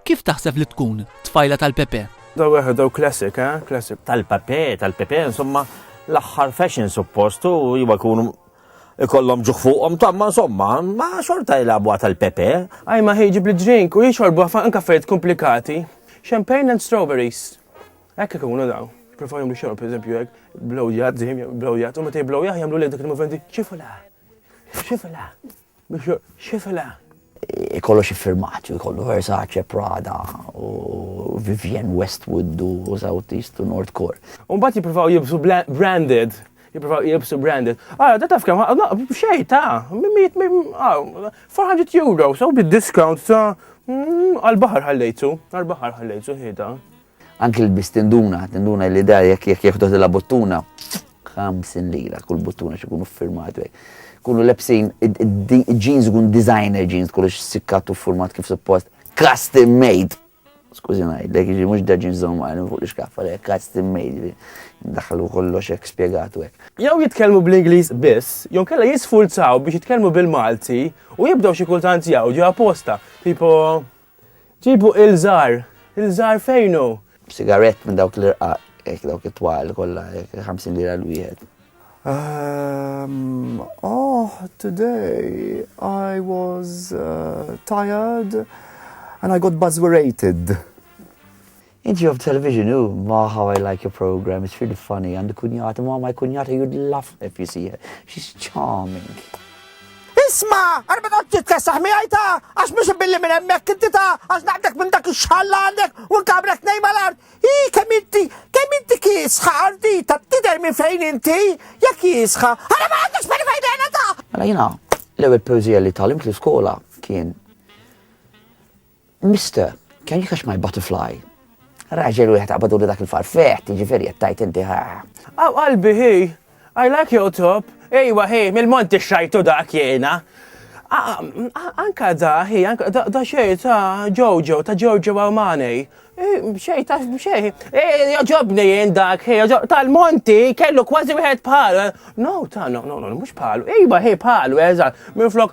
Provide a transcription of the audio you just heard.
Kif taħseb li tkun tfajla tal-Pepe? Daw eħe, daw classic, eh? Classic. Tal-pape, tal-pepe, insomma, l-axħar fashion suppost u jiba kunu ikollhom ġuħ fuqhom tamma insomma, ma xorta jilagħbuha tal-pepe. Aj ma ħiġi bli drink u jixorbu għafan anka affarijiet komplikati. Champagne and strawberries. Ekk ikunu daw. Preferjom biex xorb, per eżempju, hekk blowjat, zim, blowjat, u meta jblowjah jagħmlu li dik il-moventi ċifula. Ċifula. Biex xifela. Ikollu xi firmati, ikollu Versace, Prada, u Vivienne Westwood u South East u North Core. U mbagħad jippruvaw jilbsu branded, jippruvaw jilbsu branded. Ara, da taf kemm ħa, xejn ta' 400 euro, so bid-discount ta' għall-baħar ħallejtu, għall-baħar ħallejtu ħieda. Anki l-bis tinduna, tinduna li da jekk jekk jieħdot la buttuna, 50 lira kull buttuna xikunu firmatu. Kunu lebsin, jeans kun designer jeans, kollox sikkatu format kif suppost, custom made. Skużi najd, lek ġi mux daġin zomman fuq l-iskaffa, lek custom made, daħlu kollox ek spiegatu ek. Jaw jitkelmu bl-Inglis biss, jon kella jisfulzaw biex jitkelmu bil-Malti u jibdaw xi kultant jawġu apposta, tipo Ġibu il-żgħar! Il-żgħar fejn hu? B'sigarett minn dawk l-irqaq, hekk dawk it-twal kollha, hekk 50 lira l-wieħed. Um, oh, today I was uh, tired and I got buzzerated. Int jow b'television u ma how I like your program, it's really funny, għandi kunjata, ma my kunjata you'd love her if you see her, she's charming. Isma, għana ma taqt titkessaħ miħaj ta, għax mux billi minn emmek inti ta, għax naqdek minn dak xħalla għandek u nkabrek nej mal-art. I, kem inti, kem inti kisħa għardi ta' tider minn fejn inti, jak kisħa, għana ma għandek xbani fejn għana ta. Għana mela jina, l-ewel poezija li talim li skola kien Mister, can you catch my butterfly? Raġel wieħed qabadulu dak il-farfeħ, tiġifieri qed tgħid inti ħaħ. Aw qalbi hi, I like your top. Ejwa hi, mill-Mont ixxajtu dak jiena. Anka da hi, da xej ta' Jojo, ta' Jojo Armani. Xej ta' xej. Joġobni jien dak hi, tal-Monti kellu kważi wieħed bħal. No, ta' no, no, no, mhux bħalu. Ejwa hi bħalu, eżatt. Minflok